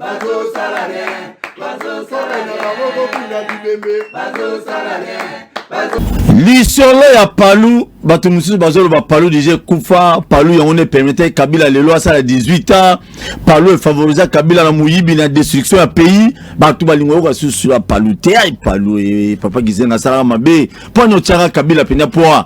bazosala rien bazosala na bango kobunda bibembe bazosala rien lisolo ya palu bato mosusu bazoloba palu deja ekufa palu yango ne permettre kabila lelo asala 18 ans palu efavorisa kabila na moyibi na destruction ya pays bato balingo yoka susu ya palu te ai palu e, papa gizenga asalaka mabe mpo ani otyaka kabila mpenza mpo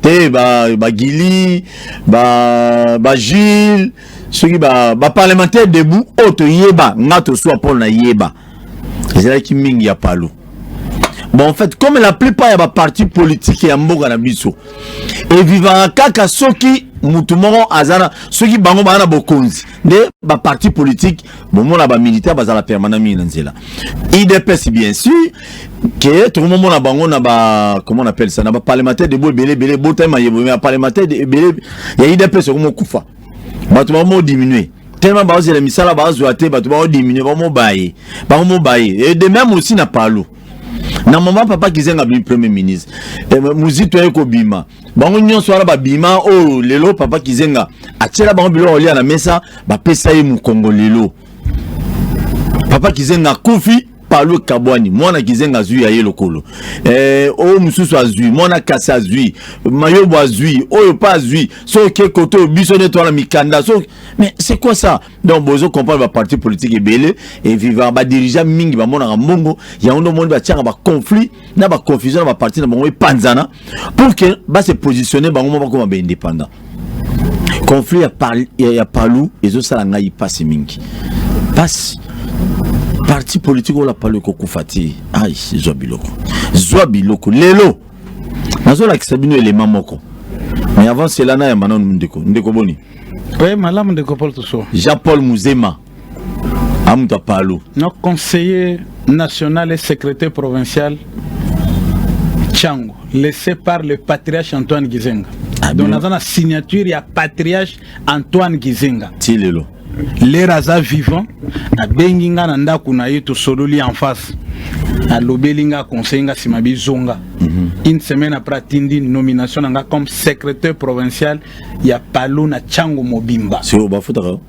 te ba ba Guili ba ba Gilles soki ba ba parlementaire debout oyo toyeba nga toswa mpo na yeba ezalaki mingi ya palu bon en fait comme la plupart ya ba parti politique ya mboka na biso evivaka kaka soki motu moko aza na soki bango baza na bokonzi nde baparti politike bomona bamilitaire bazala permanent mingi na nzela idps bien sûr ke tokomomona bango na ba comment on appelle ça na ba parlementaire de bo ebele ebele botami mayebo mais parlementaire ebele ya idps okomokufa bato bakomo diminue tellement bazela misala bazwa te bato bao diminue bamobaye bamobaye et de même aussi na palu na mama papa kizenga bi premier ministre eh, muzito aye kobima bango nyonso wana babima oyo oh, lelo papa kizenga atyela bango biloko olia na mesa bapesa ye mokongo lelo papa kizenga akufi palu kabwani mwana kizenga azwi ya ye lokolo eh, oyo mosusu azwi mwana kasi azwi mayobo azwi oyo pa azwi soki ekote oyo biso nde twana mikanda so mais c'est quoi ça donc bozo comprendre baparti politique ebele eviva badirigea mingi bamonaka mbongo yango nde omoni batiaka baconflit na baconfusion na baparti na bango epanzana pour que ba se positionner bango moko bakoma ba indépendant conflit ya, par, ya, ya palu ezosala ngai mpasi mingi mpasi parti politique oyo la palu ekokufa te ai zwa biloko zwa biloko lelo nazolakisa bino elema moko mais avant cela nayamba nanu ndeko ndeko boni oui malamu ndeko paul toso jean paul muzema amutu apalu no conseiller national et secrétaire provincial Chango laissé par le patriarche Antoine Gizenga ah, donc naza na signature ya patriarche Antoine Gizenga ti lelo lere aza vivant abengi nga na ndako na ye tosololi en face alobeli nga conseil nga nsima bizonga mm -hmm. une semaine après atindi nomination na nga comme secrétaire provincial ya palu na chango mobimba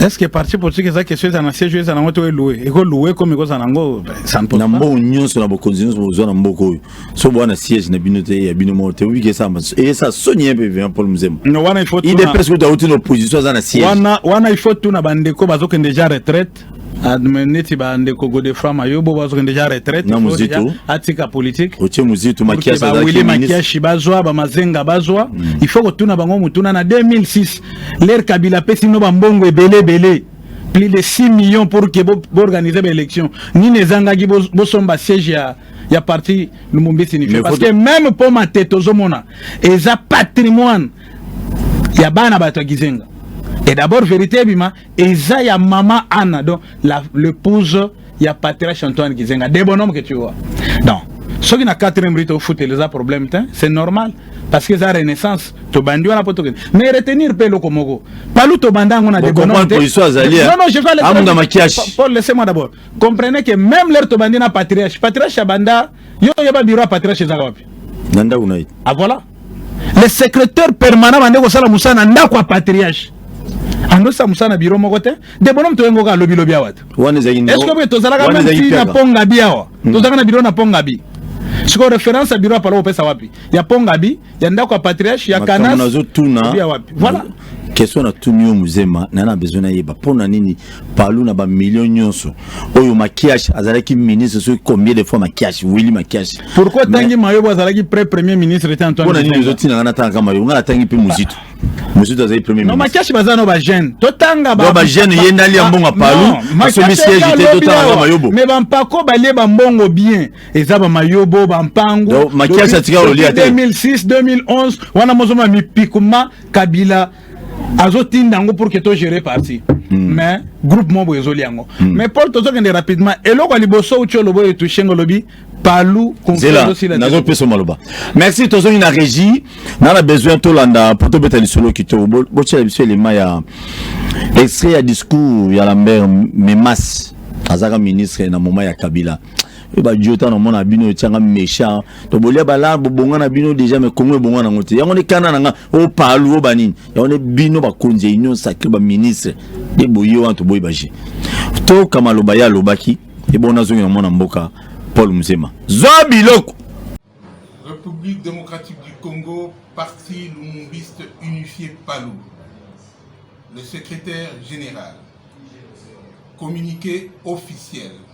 est-ce que parti politique eza question eza na siège eza nango to eloue eko loue comme eko zana ngo ça ne pose na mbo nyonso na bokonzi nyonso bozwa na mboka oyo so bwana siège na bino te ya bino moko te obi ke samba et ça soni un peu bien Paul Mzemba no wana il faut il est presque dans une opposition eza na siège wana wana il faut tout na bande ko bazokende déjà retraite retraite adme neti ba ndeko godeframa yo bo bazokende deja retraite na muzito atika politique otie muzito makiasi ba wili makiasi bazwa ba mazenga bazwa mm. il faut kotuna bango mutuna na 2006 l'air kabila pesi no ba mbongo ebele ebele plus de 6 millions pour que bo organiser ba élection nini ezangaki bo, bo somba siège ya ya parti lumumbi signifie parce que même pour ma tête ozomona eza patrimoine ya bana bato ya kizenga et d'abord vérité ebima eza ya maman Anna donc la l'épouse ya patriarche Antoine Kizenga de bonhomme que tu vois donc soki na 4e rite ofuteli eza problème te c'est normal parce que eza renaissance tobandi wana po tokende mais retenir mpe eloko moko palu tobanda yango na debononamungamakiashi paul laissez moi d'abord comprenez que même lere tobandi na patriarche patriarche abanda Yo yeba bureau ya patriarche ezaka wapi? Na ndako na ye. Ah voilà. Le secrétaire permanent bande kosala mosala na ndako ya patriarche. andosa mosala na biro moko te de bono moto yengoka alobi lobi awa te eske boye tozalaka menti na pongabi awa hmm. tozalaka na biro na pongabi sikoyo référence ya biro ya palo opesa wapi ya pongabi ya ndako ya patriarche ya kanas nazotuna voilà question na tuni yo muzema na na besoin nayeba mpo na nini palu na bamillion nyonso oyo makiash azalaki ministre soki combien de fois makiash wili makiash pourquoi atangi mayobo azalaki pre premier ministre te antoine mpona nini ozotinanga natangaka mayobo ngai natangi mpe muzito muzito azali premier ministre makiash baza no bajeune totanga bajeune ye ndali ya mbongo palu asomi siège te totangaka mayobo mais bampako balie bambongo bien eza bamayobo bampangu makiasi atika olia te 2006 2011 wana mozoma mipikuma kabila azotinda yango pour que to gérer parti mm. mais groupe moko boye ezoli yango mm. mais paul tozokende rapidement eloko ya liboso uti olobo oyo etushe ngo olobi palu nazopesa maloba merci tozongi na régie na na besoin tolanda mpo tobeta lisolo kitoko botyela biso elema ya extrait ya discours ya lambert memas azalaka ministre na moment ya kabila oyo badio ntango namona bino etyanga méchant to bolia bala bobonga na bino déjà me kongo ebonga nango te yango nde kanda na nga opalu o banini yango nde bino bakonzi ya union sacré baministre nde boye wana toboyi baje toka maloba ye alobaki ebongo nazongi na mwana mboka paul muzema zwa biloko république démocratique du congo parti lumumbiste unifié palu le secrétaire général communiqué officiel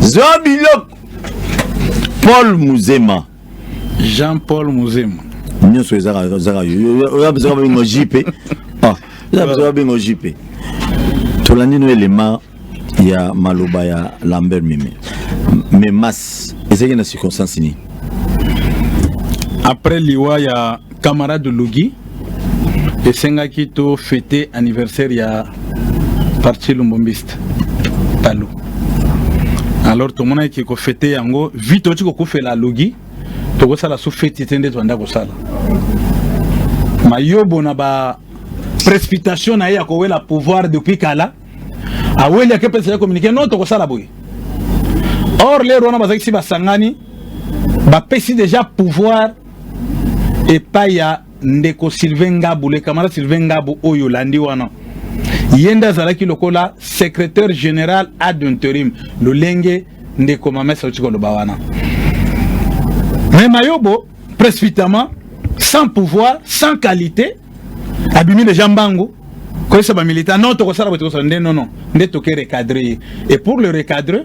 zwa biloko paul muzema jean paul muzema nyonso ezaka oya biso babengo jipe ah, oya biso babengo jipe tolandi no elema ya maloba ya lambert meme mais mas ezalaki na circonstance nini après liwa ya Camarade Lugi esengaki to fete anniversaire ya parti lumbumbiste Palu. Alors tomonaki ko fete yango vite oti kokufela Lugi tokosala su feti te nde toanda kosala mayobo na ba précipitation na ye ya kowela pouvoir depuis kala aweli ake mpesa ye communiqué non tokosala boye or lero wana bazalaki si basangani bapesi déjà pouvoir epai ya ndeko Sylvain Ngabu le camarade Sylvain Ngabu oyo landi wana ye nde azalaki lokola secrétaire général ad interim lolenge ndeko mamesa auti koloba wana mais mayobo précipitamment sans pouvoir sans qualité abimi deja mbangu koyesa bamilitaire non tokosala boye tokosala nde nono nde toke recadre ye et pour le recadre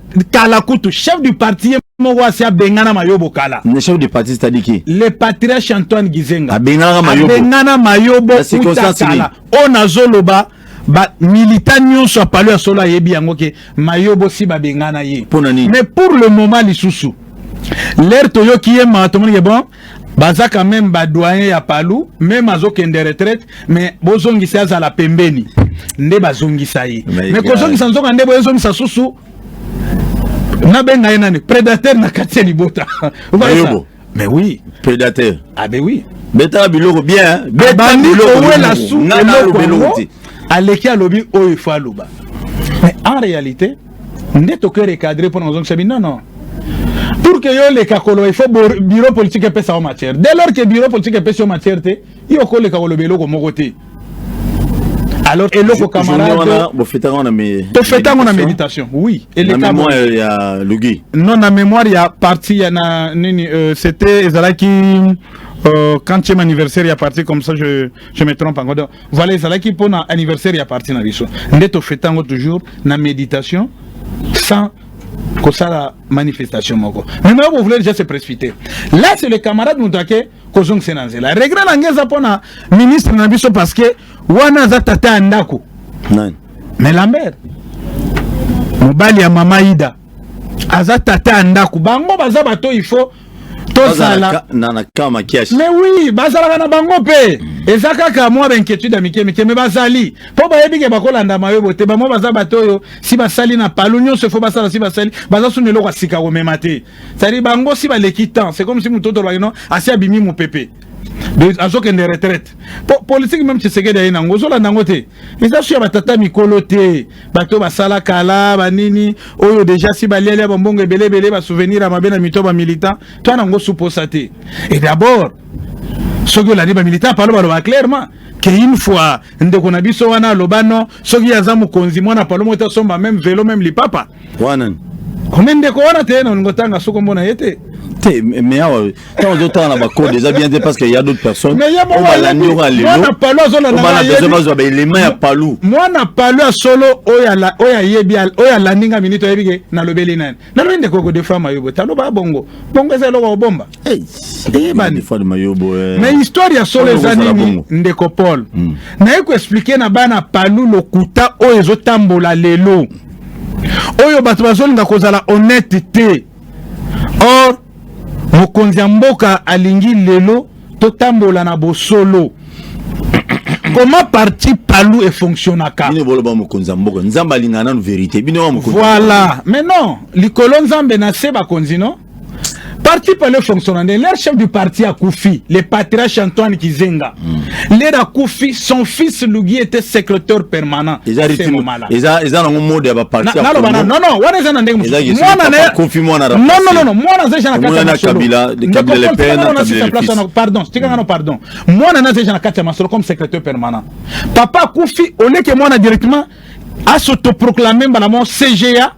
kala kutu chef du parti ye moko asi abengana mayobo kala ne chef du parti c'est-à-dire qui le patriarche antoine gizenga abenganaka mayobo abengana mayobo uta kala oyo nazoloba ba milita nyonso ya palo ya solo ayebi yango ke mayobo si babengana ye mais pour le moment lisusu lere toyoki ye maa tomonike bon baza quand même ba doyen ya palu meme azokende retraite mais bozongisa azala pembeni nde bazongisa ye mais kozongisa nzoka nde boyezongisa susu nabenga ye nani predateur na kati ya libota mais oui predateur ah ben oui betala biloko bien betala biloko owela su eloko aleki alobi oyo ifo aloba mais en réalité nde toke recadre mpo na kozongisa bi non non pour que yo oleka koloba il faut bureau politique epesa yo matière dès lors que bureau politique epesi yo matière te yo okoleka koloba eloko moko te alors eloko camarade bofeta ngo na me tofeta ngo na méditation oui eleka na mémoire ya Lugi non na mémoire ya parti ya na nini euh, c'était ezalaki euh, quand tu es anniversaire ya parti comme ça je je me trompe encore Voilà ezalaki mpo na anniversaire ya parti na biso nde tofete yango toujours na méditation sans kosala manifestation moko mais mayo bovule déjà se précipiter là c'est le camarade moto ake kozongisa na nzela regret na nge eza mpo na ministre na biso parce que wana aza tata ya ndako mais lambert mobali ya mama ida aza tata ya ndako bango baza bato il faut tozala na kama kiasi mais oui bazalaka na bango mpe eza kaka mwa bainquiétude ya mike mike me bazali mpo bayebi ke bakolanda mayobo te bamwa baza bato oyo si basali na palu nyonso efo basala si basali baza suna eloko ya sika komema te cetadi bango si baleki temps c'est comme si moto otolobaki no asi abimi mopepe azokende retraite po politike meme tshisekedi aye nango ozolanda yango te eza su ya batata mikolo te bato basala kala banini oyo deja si balialia bambongo ebele ebele basouvenir ya mabe na mito bamilitant to ana yango suposa te e d'abord soki olandi bamilitant palo baloba clairement ke une fois ndeko na biso wana aloba no soki aza mokonzi mwana palo moko te asomba meme velo meme lipapa wana kome ndeko wana te na olingo tanga soko mbona ye te te mais awa ntango ozotala na bacode eza bien te parce que ya d'autres personnes obalandi oka lelobesoin bazwa baelema ya palu mwana palu ya solo oyo ayebi oyo alandi nga minute ayebi ke nalobeli nani nalobi ndeko kodefama yo boye taloba bongo bongo eza eloko obomba Hey, eyebani eh. mais histoire ya solo eza nini ndeko paul mm. naye koexplike na bana palu lokuta oyo ezotambola lelo oyo bato bazolinga kozala honnête te or mokonzi ya mboka alingi lelo totambola na bosolo comment parti palu efonctionnaka bino boloba mokonzi ya mboka nzambe alingaka nanu verité bino wa mokonzi voilà mais non likolo nzambe na se bakonzi no parti pale fonctionna nde leur chef du parti akufi le patriarche antoine kizenga mm. leur akufi son fils lugi était secrétaire permanent eza nango mode ya bapartinaloba non non wana eza na ndenge mosusumonanonnono mwana aza eja nakatiapardon tikangano mm. pardon mwana naza eja na kati ya masolo comme secrétaire permanent papa akufi oleke mwana directement asotoproclame mbala mo cga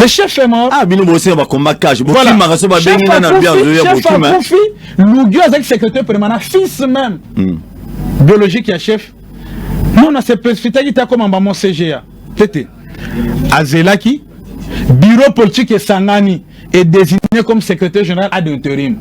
le chef est mort ah bino bosenga ba combat cash bo voilà. kimaka so ba bengi na na bien de ya bo kima chef akufi lugio azaki secrétaire permanent fils même mm. biologique ya chef non na se précipitaki ta comme maman CGA tete azelaki bureau politique esangani et désigné comme secrétaire général ad interim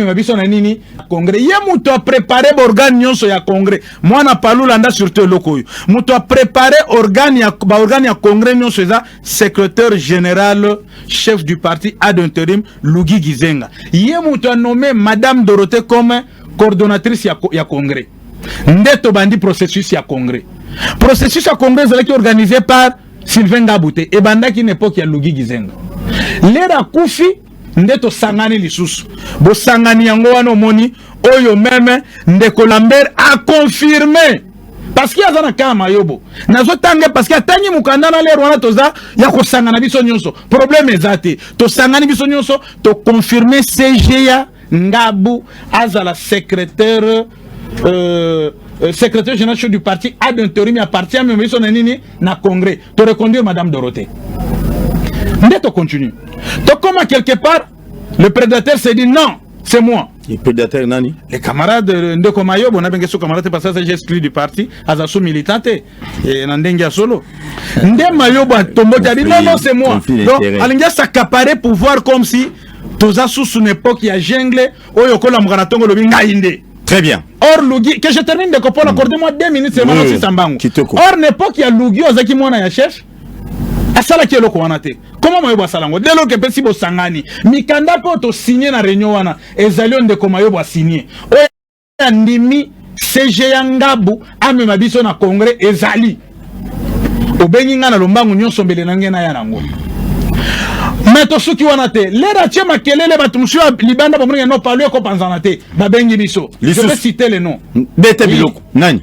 amema biso na nini congrès ye moto aprépare baorgane nyonso ya congrès mwana palu landa surtout eloko oyo moto aprépare organe ya baorgane ya congrès nyonso eza secrétaire général chef du parti ad interim lugi gizenga ye moto anome madame dorothée comme coordonnatrice ya, ya congrès nde tobandi processus ya congrès processus ya congrès ezalaki organisé par Sylvain Ngabu te ebandaki na epoque ya Lugi Gizenga lera kufi nde tosangani lisusu bosangani yango wana omoni oyo meme ndeko Lambert a confirme parce que aza na kama yobo nazotanga parce que atangi mokanda na lere wana toza ya kosangana biso nyonso problème eza te tosangani biso nyonso toconfirme CGA Ngabu azala secrétaire euh, euh, secrétaire général du parti ad interim ya parti ya mema biso na nini na congrès to reconduire madame Dorothée nde to continue tokoma quelque part le prédateur s'est dit non c'est moi le prédateur nani les camarades euh, ndeko mayo bona benge so camarade parce que j'ai exclu du parti aza sous militant te et na ndenge ya solo nde mayo ba tomboki abi non non c'est moi donc alingi s'accaparer pouvoir comme si toza susu na epoque ya jungle oyo okolamuka na tongo olobi ngai nde Très bien. Or Lugi, que je termine de comprendre, mm. accordez-moi deux minutes seulement oui, na Sambango. Or n'époque ya Lugi ozaki mwana ya chef. asalaki eloko wana te koma mayobo asala yango delo ke mpesi bosangani mikanda mpe oyo tosigne na réunion wana ezali oyo ndeko mayobo asigne andimi CG ya Ngabu amema biso na congrès ezali obengi ngai na lombangu nyonso mbele na ngai naya nango me tosuki wana te lere atie makelele bato mosusu ya libanda bamonike no palu ekopanzana te babengi biso je peux citer le nom bete biloko nani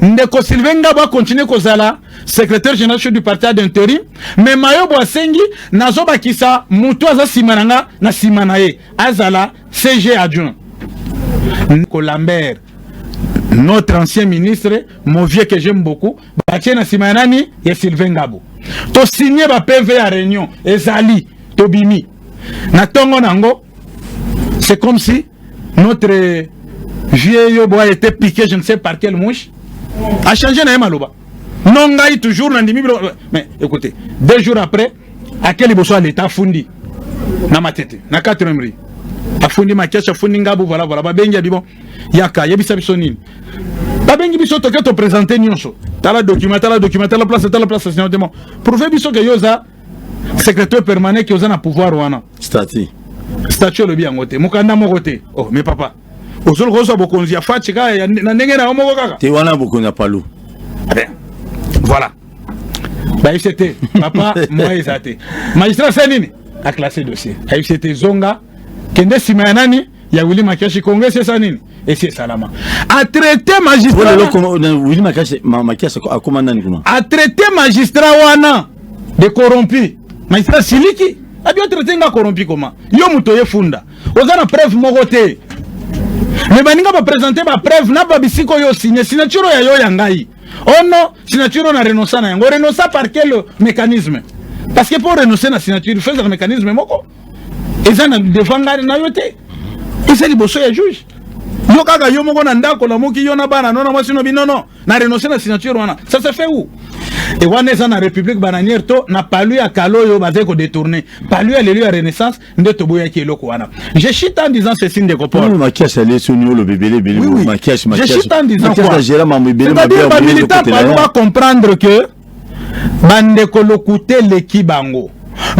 Ndeko Sylvain Ngabo a continuer kozala secrétaire général chef du parti ad interim, mais Mayobo asengi nazo bakisa mutu aza sima na nga na sima na ye azala CG adjoint. Ndeko Lambert notre ancien ministre mon vieux que j'aime beaucoup batie na sima ya nani ya Sylvain Ngabo to signe ba PV ya réunion ezali tobimi na tongo nango C'est comme si notre vieux Yobo a été piqué, je ne sais par quelle mouche, a changé na maloba. Non, ngai toujours na ndimi mais écoutez, deux jours après, à quel niveau soit l'état fundi na matete, na 4 rue. Afundi makiacha, afundi ngabu, voilà voilà, ba bengi abibon. Yaka, yebisa biso nini. Ba bengi biso toke to présenter nyonso. Tala document, tala document, tala place, tala place, sinon demo. Prouver biso que yoza secretaire permanent ki oza na pouvoir wana statut statut olobi yango te mokanda moko te oh mais papa ozoli kozwa bokonzi ya faci kaka na ndenge na yo moko kaka te wana bokonzi ya palu eh voilà bayebisi te papa moya eza te magistrat se nini aclasse dossier ayebisi te zonga kende nsima ya nani ya Willy Makiashi Congo c'est ça nini esi esalama a traité magistrat Willy Makiashi Makiashi akoma nani kuna a traité magistrat wana de corrompu magistrat siliki abi o traité nga corrompu koma yo moto ye funda oza na preuve moko te me baninga bapresente bapreuve na babisika oyo osigne signature ya yo ya ngai ono oh signature na renonsa na yango renonsa par quel mécanisme parce que mpo renoncer na signature fezaka mécanisme moko eza na devant ngai na yo te eza liboso ya juge yo kaka yo moko na ndako na moki yo na bana no na mwasi no bino no na renonce na signature wana ça se fait où e wana eza na république bananière to na palu ya kala oyo bazali kodetourne palu ya lelo ya renaissance nde toboyaki eloko wana je chite en disant ceci ndeko paul makiasi alesi oni oloba ebele ebele makiasi makiasi makiasi agela mambo ebele mabe ya bamilitant palu bacomprendre que bandeko lokuta eleki bango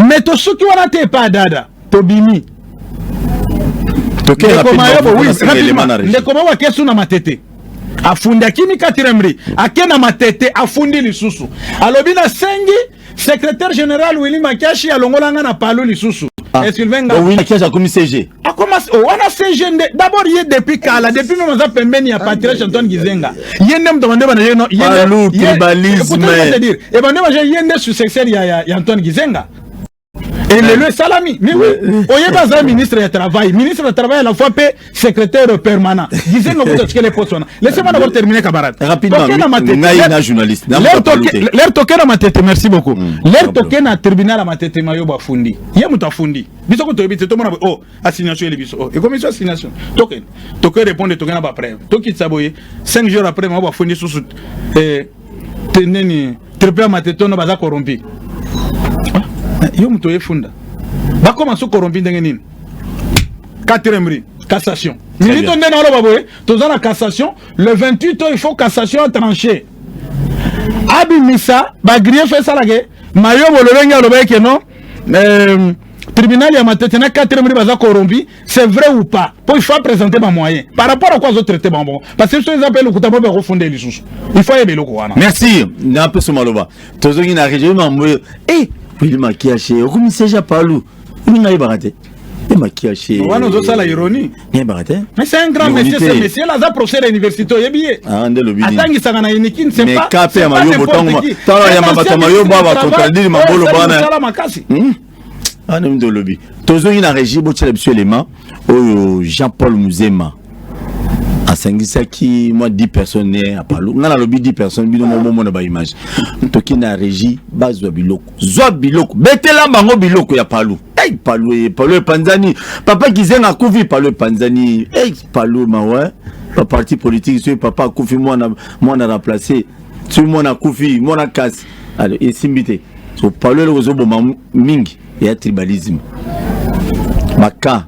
me tosuki wana te epa dada tobimi ndeko mayobo akesu na matete afundi akimi katiremri ake na matete afundi lisusu alobi nasengi secrétaire général willi makiashi alongola nga na palu lisusu ah, esylvain ngakiashi akomi cg akoma ah, oh, wana CG nde d'abord ye depuis kala depuis meme aza pembeni ya Patrice ah, Antoine Gizenga ye nde moto bande bana ye no ye nde tribalisme c'est dire et bande bana ye nde successeur ya ya Antoine Gizenga et le le salami mais oui oyeba aza ministre ya travail ministre ya travail à la fois pe secrétaire permanent Gizenga kuta tikele poste wana laissez-moi d'abord terminer camarade rapidement ngai na journaliste leur toke na matete merci beaucoup hmm. leur toke na tribunal ya matete mayo bafundi ye moto afundi biso kutu toyebi te tomona boye oh assignation ele biso oh ekomi so assignation toke toke répondre toke na ba preuve tokitisa boye 5 jours après mama bafundi susu eh, te nini triple ya matetono baza corrompi ah, yo moto oyefunda bakoma so corrompi ndenge nini quatrième ri cassation minito nde naoloba boye toza na cassation le 28 oyo il faut cassation atranche abimisa bagriefe esalake mayobo lolenge alobaki ke non euh, tribunal ya matete na 4 mili baza corrompi c'est vrai ou pas mpo il faut apresente bamoyen par rapport à quoi azotraite bango bongo parce que biso eza mpe lokuta mpo bakofunda ye lisusu il faut ayeba eloko wana merci na mpeso maloba tozongi na région mambo e eh, pili makiashe okomi seja palu olinga ayebaka te mpe makiache wana ozosala ironie nayebaka te mais c'est un grand monsieur ce monsieur là aza professeur ya université oyebi ye ah, nde lobi atangisaka na unikin mais ka mpe ya mayobo ntango ntango ya bato ya mayobo aba contradire mabolo bana hmm? ah, wana nde olobi tozongi na régie botyela biso elema oyo jean paul muzema asangisaki mwa 10 personnes ne apalu ngai nalobi 10 personnes bino moko bomona baimage toki na régie bazwa biloko zwa biloko betela bango biloko ya palu Hey, palu eh, palu epanzani papa kizenga akufi palu epanzani hey, palu mawa baparti politique soki papa akufi mwana mwana remplace soki mwana akufi mwana kasi alo esimbi te so palu eloko ezoboma mingi ya tribalisme baka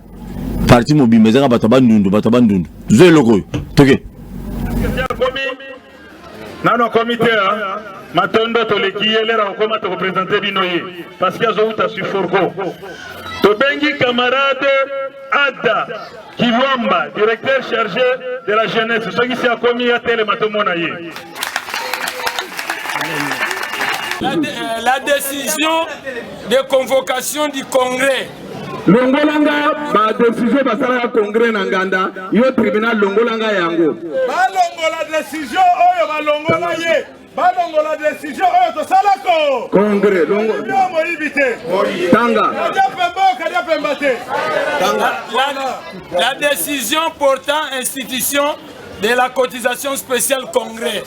parti mobimba ezaka bato ya bandundu bato ya bandundu zo eloko oyo toke okay. nano akomi te hein? matondo toleki ye lera okoma tokopresente bino ye parceke azowuta sur forco tobengi camarade ada kilwamba directeur chargé de la jeunesse soki si akomi atelema tomona ye la, euh, la décision de convocation du congrès longola nga ba decision basalaka congrès na nganda yo tribunal longola nga yango balongola decision oyo balongola ye balongola decision oyo tosalako congrès longola moyibi te tanga kadia pemba kadia pemba te tanga la décision portant institution de la cotisation spéciale congrès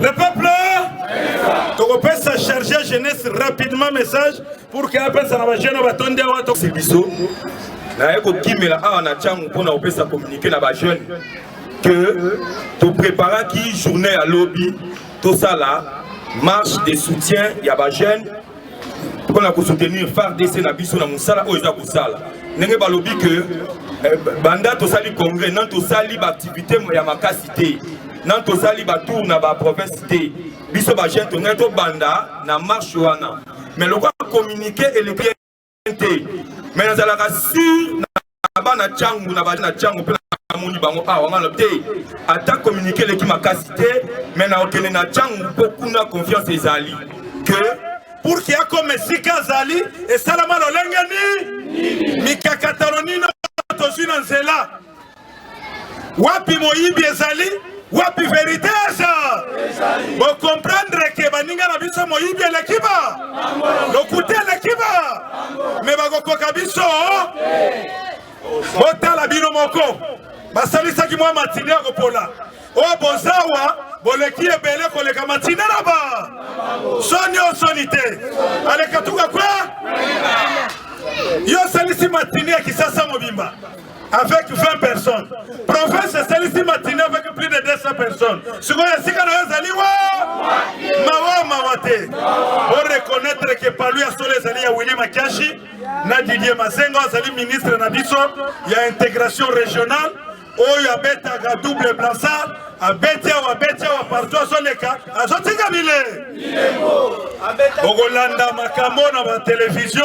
Le peuple tokopesa charge ya jeunesse rapidement message pour que apesa na bajeune batondi awa tosi biso naye kokimela awa na ntango mpo na kopesa communiqué na bajeune que topreparaki journée ya lobi tosala marche de soutien ya bajeune mpo na kosoutenir fardc na biso na mosala oyo eza kosala ndenge balobi ke eh, banda tosali congrès nani tosali baaktivité ya makasi te nani tosali batour na baprovince te biso bajeune tongei tobanda na marche wana mais lokola communiqué eleki te me nazalaka sur na bana cangu na bana cangu mpe namoni bango awa ngana te ata communiqué eleki makasi te me nakokende na cangu mpo kuna confiance ezali que pour ke akoma esika azali esalama lolenge nini mikakatano nino tozwi na nzela Wapi moyibi ezali? Wapi verite eza? Bo comprendre ke baninga na biso moyibi eleki ba lokuta eleki ba me bakokoka biso. Botala bino moko basalisaki mwa matine ya kopola oyo bozawa boleki ebele koleka matine na ba soni o soni te alekatuka kwe yo osalisi matine ya kisasa mobimba avec 20 personnes province esalisi matine avec plus de 200 personnes sikoyo esika na yo ezali wa mawa mawa te oreconnaitre ke palu ya solo ezali ya willi makiashi na didier masengo azali ministre na biso ya intégration régionale oyo abetaka double blansard abeti awa abeti awa partout azoleka azotika bile okolanda makambo na batelevizio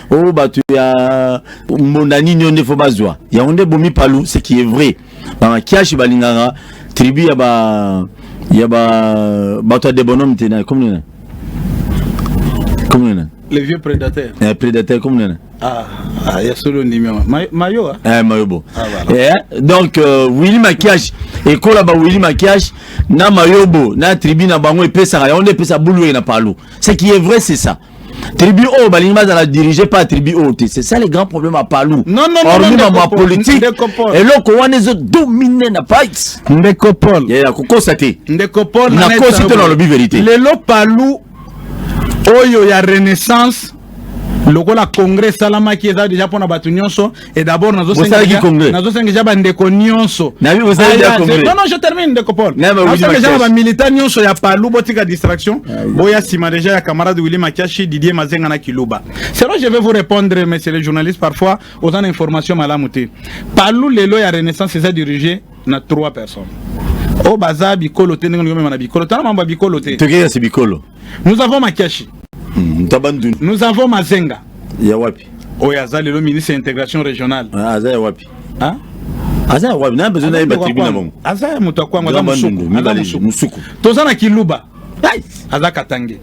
oh bato ya mbonda nini oyo nde fo bazwa yango nde bomi palu ce qui est vrai bamakiashi balingaka tribu ya ba ya ba bato ya debonome te na komi nena komi nena le vieux prédateur eh, prédateur komi nena Ah, ah, ya solo ndimi yango mayo a ah? eh, mayo bo ah, voilà. eh, donc euh, willi makiage ekola ba willi makiage na mayobo na tribu na bango epesaka yango nde epesa bulu eye na palu ce qui est vrai c'est ça tribu oyo balingi bazala dirige pa tribu oyo te c'est ça le grand problème ya palu hormi mamo ya politique eloko wana ezo domine na pite ndeko paul ya kokosa te ndeko paul nakosi te nalobi verité lelo palu oyo ya renaissance lokola congrès esalamaki eza deja mpona bato nyonso Et d'abord, nous avons déjà bandeko nyonso. Non, non, je termine, ndeko Paul. Nous avons déjà ba militants nyonso ya Palou, botika distraction. Ah Boya sima déjà ya camarade Willy Makiashi, Didier Mazenga na Kiluba. C'est vrai, je vais vous répondre, messieurs les journalistes, parfois, aux informations malamouté. Palou, lelo ya Renaissance, c'est dirigé na trois personnes. Oh, baza bikolo te, ndenge ngomema na bikolo. Tala mamba bikolo te. Tokeye si bikolo. nous avons makiashi hmm, tabanduni nous avons mazenga ya wapi oyo aza lelo ministre ya intégration régionale ah, aza ya wapi hein? aza ya wapi na besoin na yeba tribu na bango aza ya moto ya kwango aza mosuku toza na kiluba aza katange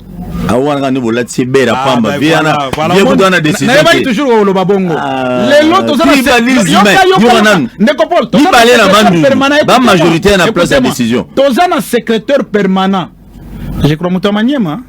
awana kani bolati ebela ah, pamba vie wana vie kutu wana décisionayebaki toujours oloba bongo ah, lelo tozanayoka nanu ndeko paul mibale na bandundu bamajorité na place ya décision toza na secrétaire permanent Je crois moto ya Maniema.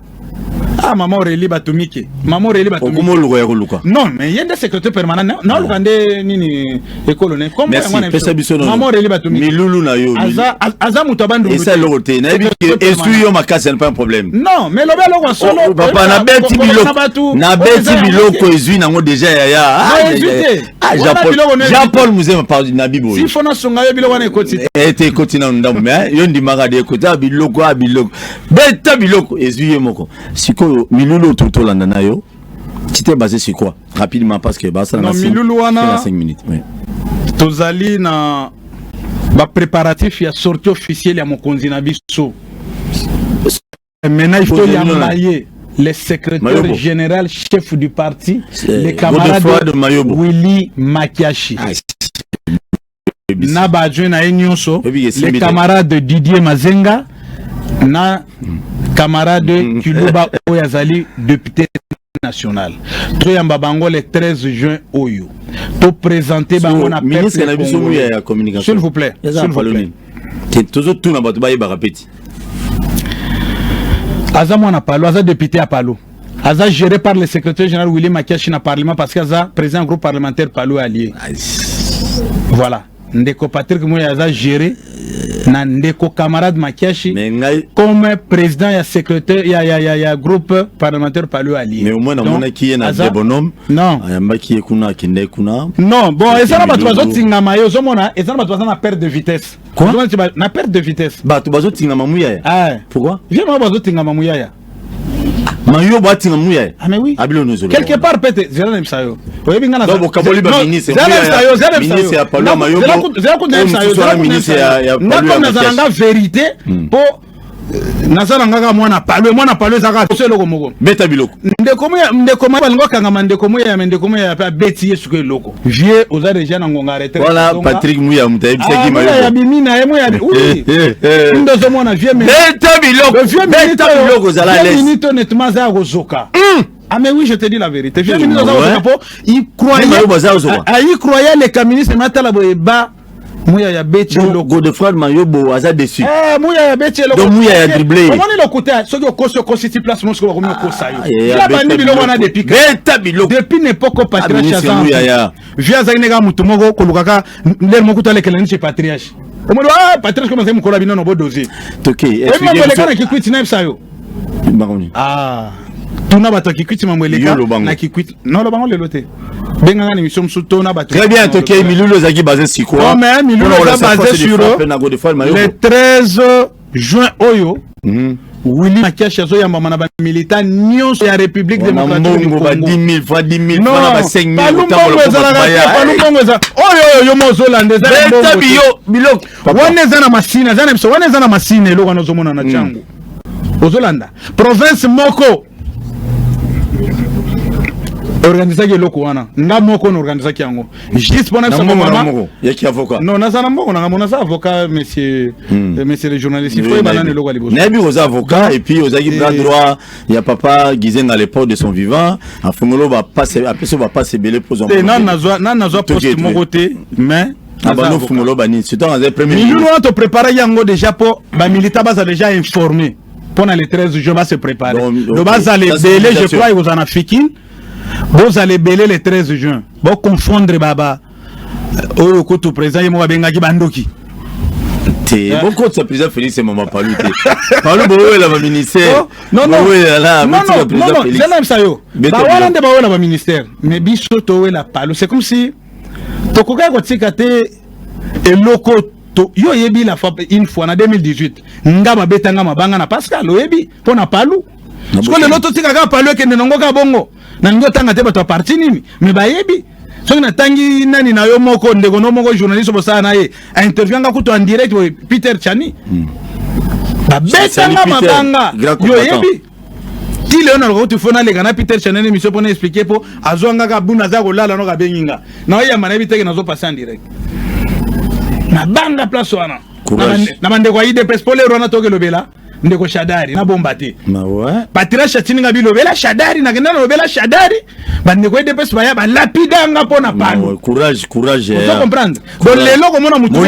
Ah maman Aurélie Batumike. Maman Aurélie Batumike. Okuma oluka ya koluka. Non, mais yende secrétaire permanent. Non, ah. oluka nde nini ekolo ne. Comme Merci, mwana pesa biso non. Maman Aurélie Batumike. Milulu na yo. Aza aza moto abandu. Esa loko te. Na yebi que esu yo makasi pas un problème. Non, mais lobe loko solo. Oh, papa na beti biloko. Na beti biloko ezui nango déjà yaya. Ah, Ah, Jean Paul, Jean Paul Muzema par Nabi Boy. Si fona songa yo biloko na ekoti. Eh te ekoti na ndambo mais yo ndimaka de ekoti a biloko a biloko. Beta biloko ezui ye moko. Sikoyo milulu ototolanda na yo. Tu t'es basé sur quoi Rapidement parce que bah ça na 5 minutes. Oui. Tozali na ba préparatifs ya sortie officielle ya mokonzi na biso. Maintenant, il faut l'emballer. Le secrétaire général, chef du parti, le camarade Willy Makiashi. Ah, na baadjoint na ye nyonso le camarade didier mazenga na camarade kiluba oyo azali député national toyamba bango le 13 juin oyo to présenter bango na ministre na biso moya ya communication s'il vous plaît s'il vous plaît tozo tuna bato bayebaka peti aza mwana palo aza député ya palo aza géré par le secrétaire général Willy Makiashi na parlement parce que aza président groupe parlementaire palo allié voilà ndeko Patrick Moye aza géré na ndeko camarade Makiashi mais ngai comme président ya secrétaire ya ya ya, ya groupe parlementaire palu ali mais au moins namonaki ye na aza... debonome non ayambaki ye kuna akendaki kuna non bon eza na bato bazotingama ye ozomona eza na bato baza na perte de vitesse quoi na perte de vitesse bato bazotingama muyaya ah. pourquoi vie moko bazotingama muyaya mayo batinga muya ah mais oui abilo nous quelque part peut être zela nemsa yo oyebi ngana donc bokaboli ba ministre zela nemsa yo zela nemsa ministre ya palo mayo zela ko zela ko nemsa yo zela ko nemsa yo na comme na zala nga vérité hmm. po naza na ngaka mwana palo mwana palo ezaka so eloko moko beta biloko ndeko moya ndeko moya balingo kangama ndeko moya ya ndeko moya ya pe abeti yesu ko eloko Vieux oza deja na ngonga retraite. Voilà Patrick Muya muta ebisaki mayo. Ah, ya bimi na ye moya. Oui. Ndo zo mona vieux mais. Beta biloko. Vieux beta biloko zala les. Minute honnêtement za kozoka. Hmm. Ah mais oui, je te dis la vérité. Vieux ministre za kozoka po il croyait. Il croyait les ministre matala boye ba muya ya beti eloko Godefroid Mayobo aza déçu eh muya ya beti eloko donc muya ya dribble omoni lokuta soki okosi okosi ti place mosiko bakomi okosa ah, yo ya bandi biloko wana depuis beta biloko depuis n'epoque patriarche aza muya ya via azaki neka moto moko kolukaka ndele moko talekela ni chez patriarche omoni ah patriarche koma azali mokolo ya bino na bodozi toke oyebi mambo eleka na kikwiti nayebisa yo bakoni ah tuna bato ya kikwiti mambo eleka na kikwiti nolobango lelo te benga ngani mission musu to na bato très bien to kei milulu ezaki basé sur quoi non mais milulu eza basé sur le 13 juin oyo mm. Willy Makiashi azoyambama na bamilita nyonso ya république démocratique palungongo ezalaka te palungongo eza oyo oyo yo mozolanda ezawana eza na masine eza na biso wana eza na masine eloko wana ozomona na ntango hmm. ozolanda province moko organisaki eloko wana nga moko na organisaki yango juste pona biso mama yaki avocat non naza na mbongo nanga mona za avocat monsieur hmm. euh, monsieur le journaliste il faut ebana na eloko ya liboso nayebi oza avocat et puis ozalaki bras droit ya papa Gizenga le port de son vivant afungolo ba passe apesa ba passe ebele mpo zwa eh, nani nazwa nani nazwa poste moko te mais abano fungolo banini surtout azali premier milieu wana topreparaki yango déjà mpo bamilita baza déjà informé mpo na le 13 juin base prépare do bazala ebele je crois ekozala na fikine bozala ebele le 13 juin boconfondre baba euh, oyo kutu président ye moko abengaki bandoki te eh. bokotisa président félix mama palu te palu bowela baministère oh, nayebisa yo bawana nde bawela baministère mais biso towela palu c'est comme si tokokaki kotika te eloko to yo oyebi la fois une fois na 2018 nga babeta nga mabanga na Pascal oyebi mpo na palu siko lelo totika kaka palu ekende nango kaka bongo nalingi otanga te bato ya parti nini me bayebi soki natangi nani na yo moko ndeko no moko journaliste bosala na ye interview anga kutu en direct boye peter chani hmm. babetanga mabanga yo oyebi kilo na kuti fona leka na Peter Chanel emission pona expliquer po azwanga ka buna za kolala no kabengi nga na oya mana biteke nazo passer en direct na banga place wana na bandeko ya IDPS po lero wana tokelobela ndeko shadari na bomba te patrice atininga bilobela shadari nakenda nalobela shadari bandeko edepesi baya balapida nga mpo na pano courage courage ozo eh. comprendre donc lelo komona motu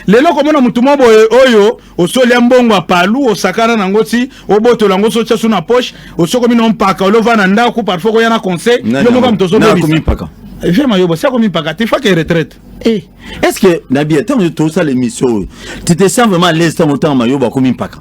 lelo komona motu moko boye oyo osolia mbongo ya palu osakana nango ti obotola yango so tia su na poche osokomi na mpaka olova na ndako parfois koya na conseil yo moka moto ozobebisa vema yo bosi akomipaka te fake retraite eh, est ce que na bien ntango tosala émission oyo tu te sens vraiment à l'aise ntango ntango mayobo akomi mpaka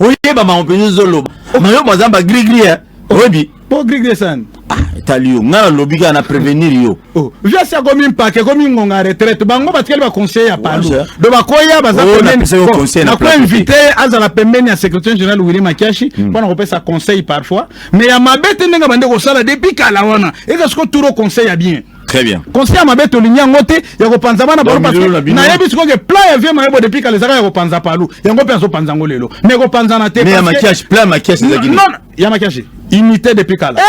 oyeba bango mpenza ozoloba mayobo aza bagrigri oyebi po grig desani ah, etali yo ngai nalobi kaka na prévenir yo oh, viasi akomi mpake ekomi ngonga retraite bango batikali baconseil ya palo do bakoya baza oh, nakoinvite azala pembeni ya secrétaire général willi makiashi hmm. mpo na kopesa conseil parfois mais ya mabe te ndenge bande kosala depuis kala wana eza siko turo conseil ya bien Très bien. Conseil à ma bête au lignan ngote, y'a go panzama na bolo parce que na yebi siko que plan y'a vie ma yebo depuis kale zaka y'a go panza palou, y'a go panzo panzango lelo. Mais go panzana te. Mais y'a maquillage, plan maquillage zaki. Non, ya makiage unité depuis kala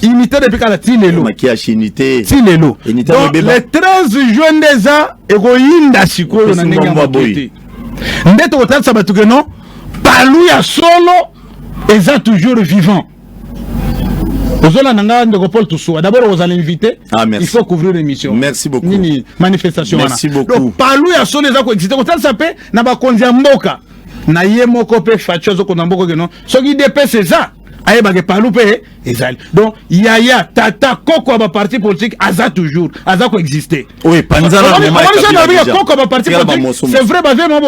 unité depuis kala ti lelo makiage unité ti lelo donc le 13 juin nde eza ekoyinda sikoyo na ndenge ya moke te nde tokotalisa bato ke non palu ya solo eza toujours vivant ozolanda nga ndeko paul tosuwa d'abord okozala invité ah, il faut couvrir l'émission merci beaucoup nini manifestation wana donc palu ya solo eza koexiste kotalisa mpe na bakonzi ya mboka na ye moko mpe faci azokona mboko keno soki dps eza ayebaka epalu mpe ezali donc yaya tata koko ya baparti politique aza toujours aza koexiste koko ya baparti politique c'est vrai bavie mabo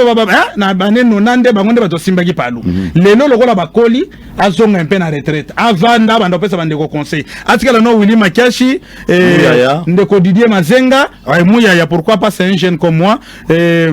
na bane nona nde bango nde bato basimbaki palu mhm. lelo lokola bakoli azonga mpe na retraite avanda banda kopesa bandeko conseil atikala no willi makiashi eh, ndeko didier mazenga muyaya pourquoi pas c'est un jeune comme moi eh,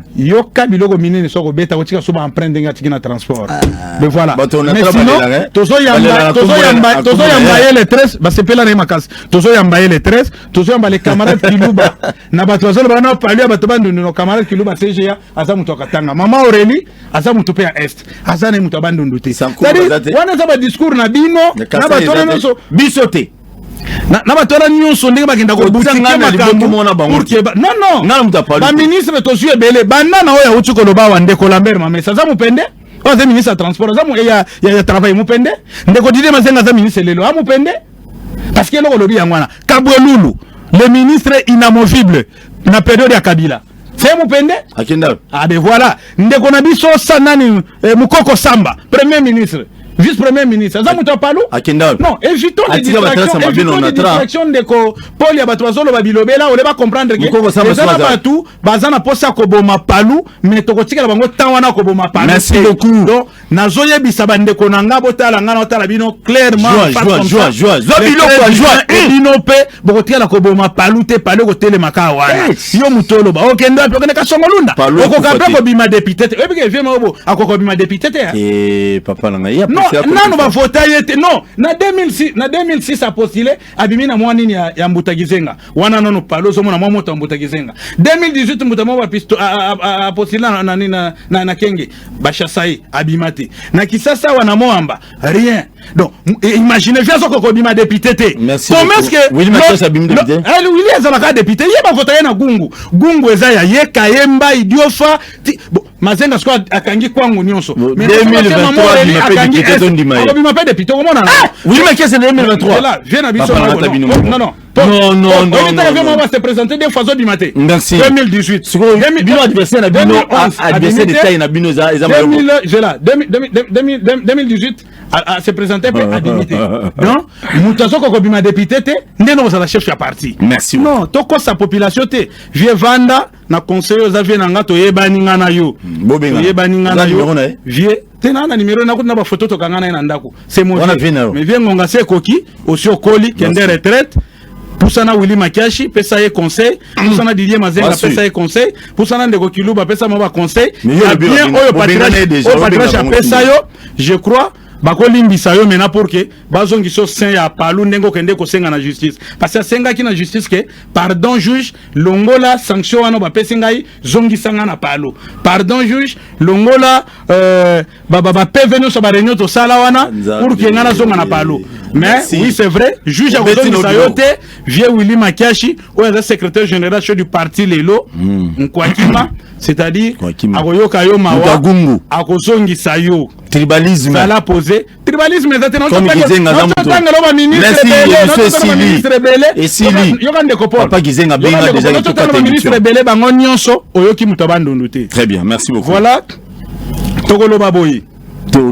yoka biloko minene so kobeta kotika so baemprunte ndenge atiki na transport ah. mais voilà mais sinon eh? tozoyamba ye le 13 basepela na ye makasi tozoyamba ye le 13 tozoyamba le camarade kiluba na bato bazoloba wana palu ya bato bandundu no camarade kiluba tga aza moto akatanga mama aurélie aza moto mpe ya est aza na ye moto ya bandundu te wana eza badiscours na bino na bato wana nyonso biso te na, na bato wana nyonso ndenge bakenda kobutike makambo non non baministre tozwi ebele banda na oyo auti koloba awa ndeko lambert mamesa aza mopende oyo aza ministre ya transport aza eh, ya, ya, ya travail mopende ndeko didie mazenga aza ministre lelo a ah, mopende parce que eloko olobi yango wana kabwelulu le ministre inamovible na periode ya kabila se mupende akenda abe ah, voilà ndeko na biso sa nani eh, mukoko samba premier ministre vice premier ministre aza moto ya palu akenda non évitons les distractions évitons les distractions ndeko pole ya bato bazoloba bilobela ole bacomprendre ke eza na bato baza na mposa ya koboma palu mais tokotikela bango temps wana koboma palu merci beaucoup nazo yebisa ba ndeko na nga botala nga na otala bino clairement joie joie joie zo bino kwa joie eh, bino pe bokotikala koboma palu te palu kotelema ka wana yo mutolo ba okende pe okende kasongo lunda okoka pe kobima député te oyebi ke vieux maobo akoka kobima député te hein? eh papa na ngai non nanu ba vota ye te non na 2006 na 2006 a postulé abimi na mwa nini ya, ya mbuta kizenga wana nanu palu ozomona mwa moto ya mbuta kizenga 2018 mbuta mwa ba pisto a, a, a, a postulé na, na, na, na, na kenge bashasaye abima te na kisasa wana moamba rien donc imagine vi azokoka kobima depute te comesquewili azalaka depute ye bavota ye na gungu gungu eza ya ye kayemba idiofa mazenga sikoyo akangi kwangu nyonso akobima mpe depute okomonana vie na biso Non, non, non, non, non. Oyebi tala vraiment ba se présenter deux fois zo bima te. Merci. 2018. Sikoyo bino adversaire na bino adversaire de taille na bino eza eza mayo. 2000 je la 2018 a se présenter pe a démité. Non, mutu azoko ko bima député te, ndeno ozala chef ya parti. Merci. Non, toko sa population te. Vieux Vanda na conseil oza vie na nga toyebani nga na yo hmm, toyebani nga na yo vie te na na numero na kuna ba photo tokanga na ye na ndako c'est mon mais vie ngonga se koki osi okoli kende retraite pusana Willy Makiashi pesa ye conseil hmm. pusana Didier Mazenga pesa ye conseil pusana ndeko Kiluba pesa mo ba conseil ya bien oyo patriarche oyo patriarche apesa yo je crois bakolimbisa yo mena pour que bazongisa yo saint ya palu ndenge okende kosenga na justice parce asengaki na justice ke pardon juge longola sanction wana bapesi ngai zongisa ngai na palo pardon juge longola euh, bapeve nyonso bareunion tosala wana pour ke ngai nazonga na palo mais Merci. oui c'est vrai juge akozongisa yo te vieux willi makiashi oyo aza secrétaire général chez du parti lelo hmm. nkwakima c'est-à-dire akoyoka yo mawa akozongisa yo tribalisme zala pose tribalisme eza te naotangela ba ministre ebele yoka ndeko polpapa gizenga benga deja ototangela ba ministre ebele bango nyonso oyoki moto ya bandundu te très bien merci beaucoup voilà tokoloba boye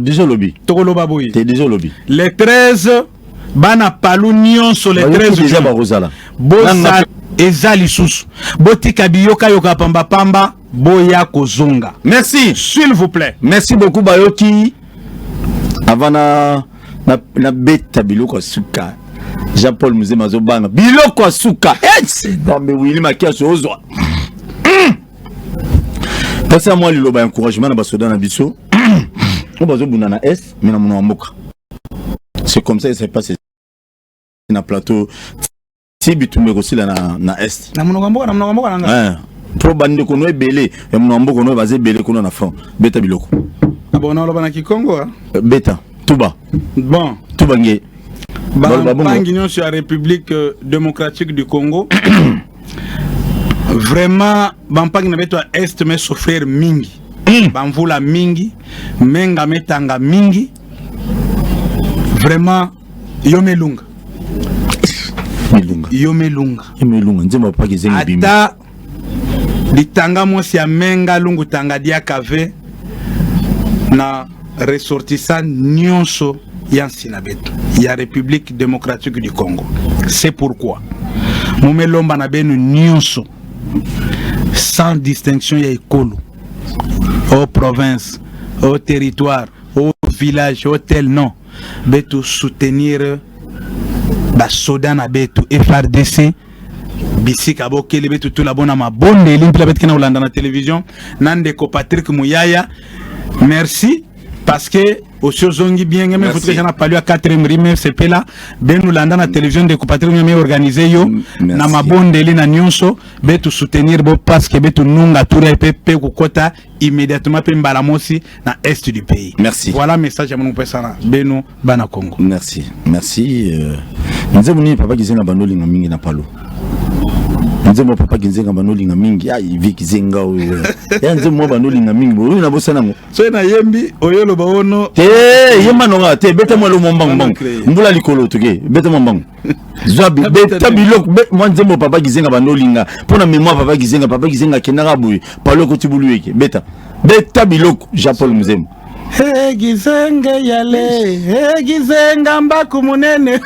deja olobi tokoloba boye deja olobi le 13 bana palu nyonso le 13 deja bakozala bosala eza lisusu botika biyokayoka pambapamba boya kozonga merci s'il vous plaît merci beaucoup bayoki avant na na, na beta biloko ya suka jean paul muzema azobanga biloko ya suka nzambe wili makiasi ozwa hmm. pasi ya mwa liloba ya encouragement na basoda na biso hmm. oyo bazobunda na est me na mono ya mboka c'est comme ça ese passe na plateau ti bitumba ekosila na, na est na monoko mboka na monoko mboka nanga eh, mpo bandeko no ebele ya monoko mboka no baza ebele kuna na front beta biloko abona ah oloba na kikongo ah? eh, beta tuba bon tuba nge bampangi nyonso ya république euh, démocratique du congo vraiment bampangi na beto ya est me souffrir mingi hmm. bamvula mingi menga metanga mingi vraiment yo melunga melunga yo melunga yo melunga nzembo ya paki zengi bimi ata litanga mwasi ya menga lungu tanga dia kave na ressortissant nyonso ya nsina betu ya république démocratique du congo c'est pourquoi momelomba na benu nyonso sans distinction ya ekolo o province o territoire o village o tel non betu soutenir basoda na betu frdc bisika bokeli betu tula bona mabondeli mpela beti kena kolanda na television na ndeko patrick muyaya merci parce que osi ozongi bien ngeme futu eza na palio ya 4 rime sepela benu landa na television ndeko patrick ngeme organise yo na mabondeli na nyonso betu soutenir bo parce que betu nunga tura epe pe kokota immédiatement pe mbala mosi na est du pays merci voilà message ya mon pesa na beno bana Congo merci merci euh, nzembo nini papa kizenga banolinga mingi na palo nzembo papa kizenga banolinga mingi ya ivi kizenga oyo ya nzembo mwa banolinga mingi boyo na bosana yango soki nayembi oyoloba ono te yemba nonga te beta mwa lomo mbangu mbangu mbula likolo toke beta mwa mbangu zwa beta biloko mwa nzembo papa kizenga banda olinga mpo na memoire papa kizenga papa kizenga akendaka boye paloko tibulu eke beta beta biloko jean paul mzembo egizenge yale egizenga mbaku munene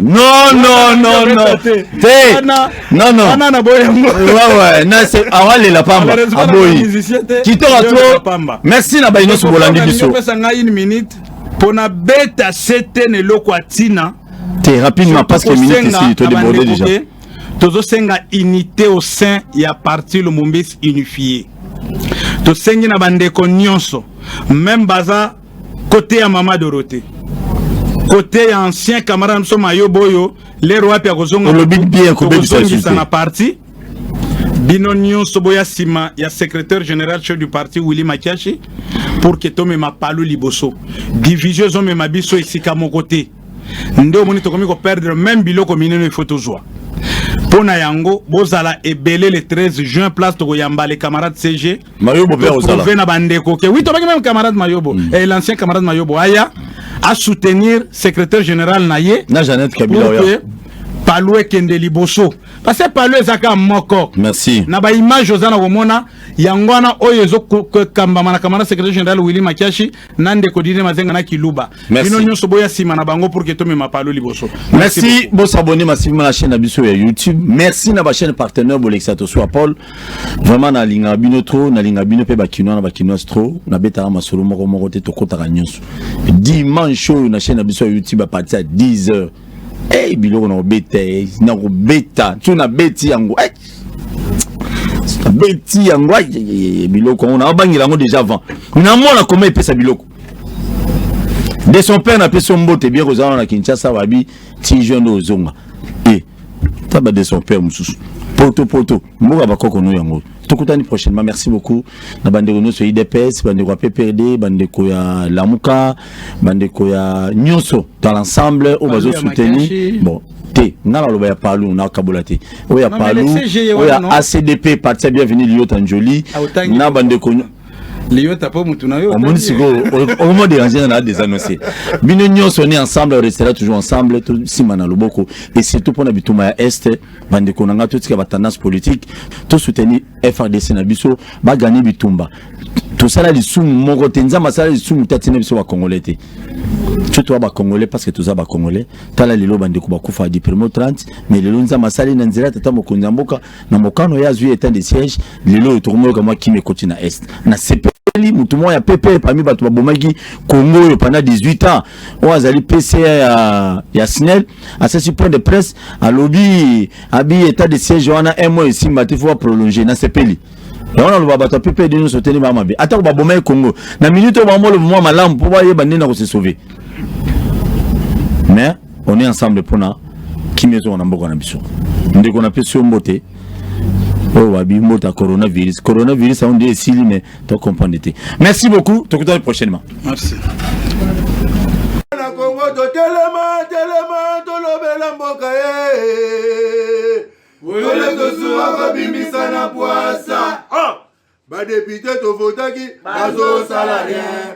nononononoana na boye yangowawe nase awalela pamba aboyi kitoka to merci na bayi nyonso bolandi biso pesa ngai une minute pona beta sete na eloko ya tina te rapidement parce que minute esi to débordé déjà tozosenga unité au sein ya parti lumumbis unifié tosengi na bandeko nyonso meme baza kote ya mama dorote kote ya ancien camarade na biso mayobo oyo lero wapi akozonga na parti bino nyonso boya nsima ya secrétaire général chef du parti willi makiashi pour ke tomema palu liboso division ezomema biso esika moko te nde omoni tokomi koperdre meme biloko minene ifo tozwa mpo na yango bozala ebele le 13 juin place tokoyamba le camarade cg prouve na bandeko ke wi tobaki meme camarade mayobo mm. eh, l'ancien camarade mayobo aya asoutenir secrétaire général na ye na janete kabila oya palue kende liboso parce que palo eza kaka moko merci na ba image oza na komona yango wana oyo ezokambama na kamana secrétaire général willi makiashi na ndeko dine mazenga na kiluba bino nyonso boya nsima na bango pour ke tomema palo liboso merci bosabone masivima na chaîne na biso ya youtube merci na bachaîne partenaire bolekisa tosua paul vraiment nalingaka bino trop nalingaka bino mpe bakinois na bakinoise trop nabetaka masolo moko moko te tokotaka nyonso dimanche oyo na chaîne na biso ya youtube apartir ya 10 heures hey, eh, biloko na kobeta eh, na kobeta so nabeti yango hey. nabeti yango eh, biloko yango nabangela yango déjà avant namona koma epesa biloko de son père napesi yo mbote bien kozala wana na kinshasa babi ti jeune ozonga e taba de son père mosusu poto poto mboka bakoko no yango tokutani prochainement merci beaucoup na bandeko nyonso ya idps bandeko ya pprd bandeko ya lamuka bandeko ya nyonso dans l'ensemble oyo bazo soutenir bon te nga naloba ya palu nakabola te oyo ya palu oyo ya acdp parti ya bienvenu liyota njoli ah, na bandeko liyota mpo motu na yo omoni sikoyo okoma dérange na désannoncé bino nyonso ne ensemble restera toujours ensemble tosimba na loboko et surtout mpo na bituma ya este bandeko na ngai totika ba tendance politique to soutenir FRDC na biso ba gagner bitumba tosala lisumu moko te nzambe asala lisumu te atina biso bakongole te so toya bakongole parce que toza bakongole tala lelo bandeko bakufa du primo 30 mais lelo nzambe asali na nzela tata mokonzi ya mboka na mokano ye azwi etat de siège lelo oyo tokomoyoka mwa kimi ekoti na est na sepe ezali motu moko ya pepe parmi bato babomaki kongo oyo pendant 18 ans oyo azali pca ya, ya snel asasi point de presse alobi abi état de siège wana un mois esimba te fo baprolonge nasepeli yango naloba bato ya ppd nyonso te nde baa mabe atako baboma ye congo na minute oyo bamoloba mwa malamu mpo bayeba nde na kose sauve mais on est ensemble mpona kimia ezonga na mboka na biso ndeko napesi yo mbote oyo babi mbote ya coronavirus coronavirus yango nde esili mais to comprendre te merci beaucoup tokutani prochainement merci na kongo totelema telema tolobela mboka ye oyole tosuwa kobimisa na pwasa ah! badepute tovotaki bazosala rien